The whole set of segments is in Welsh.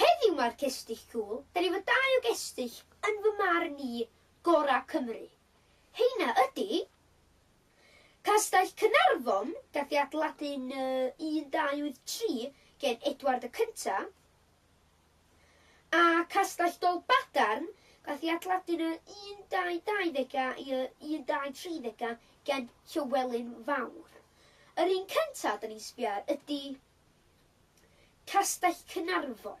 Heddiw mae'r cestyll cŵl, dan efo dau o gestyll, yn fy marn i, gorau Cymru. Heina ydi. Castell Caernarfon, gath ei adeiladu'n 1283 gen Edward y Cyntaf. A Castell Dolbadarn, gath ei adladu yn y 1220au i y 1230au gen Llywelyn Fawr. Yr un cynta' 'da ni'n sbio ar ydi Castell Caernarfon.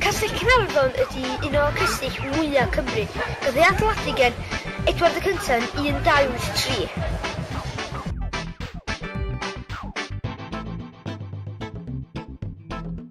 Castell Caernarfon ydy un o'r castell mwyaf Cymru. Cafodd ei adeiladu gan Edward y Cyntaf yn 1283.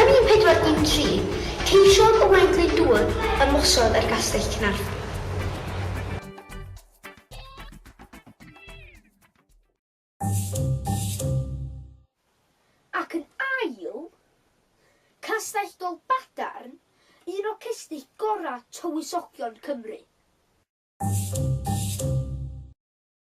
Yn 1413, ceisiodd Owain Glyndŵr ymosod ar Gastell Caernarfon. Ac yn ail, Castell Dolbadarn, un o cestyll gorau tywysogion Cymru.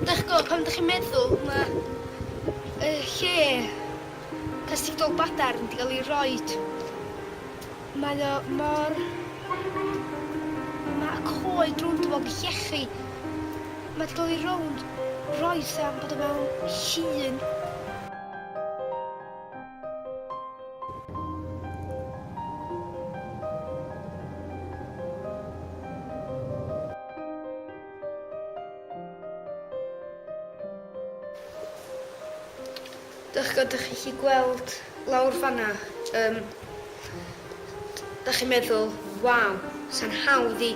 Dych go, pan ydych chi'n meddwl, mae y lle castigol badarn wedi cael ei roed. Mae o mor... Mae y coed rownd fo'n llechi. Mae wedi cael ei rownd roes am bod o mewn llun. Dach ch'od dych chi'n gallu gweld lawr fan'na yym dach chi'n meddwl waw sa'n hawdd i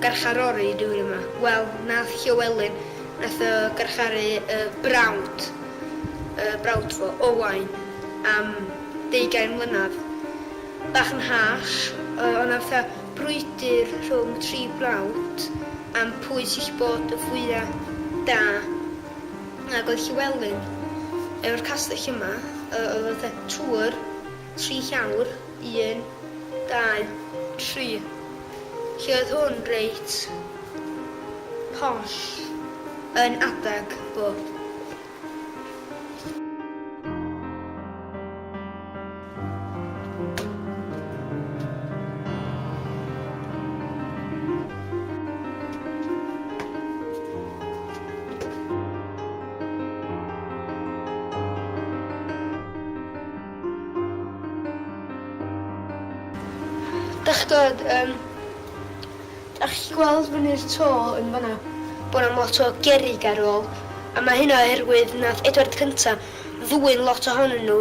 garcharori rywun yma. Wel nath Llywelyn nath o garcharu y brawd y brawd fo, Owain, am deugain mlynadd. Bach yn harsh yy o' 'na fatha brwydr rhwng tri brawd am pwy sy' 'llu bod y fwya' da. Ac oedd Llywelyn, efo'r castell yma, yy oedd fatha twr, tri llawr, un, dau, tri. Felly oedd hwn reit posh yn adag bob. Dach chi'n gweld, um, dach chi'n gweld fyny'r to yn fanna, bod am lot o gerig ar ôl, a mae hynna oherwydd nath Edward Cynta ddwyn lot ohonyn nhw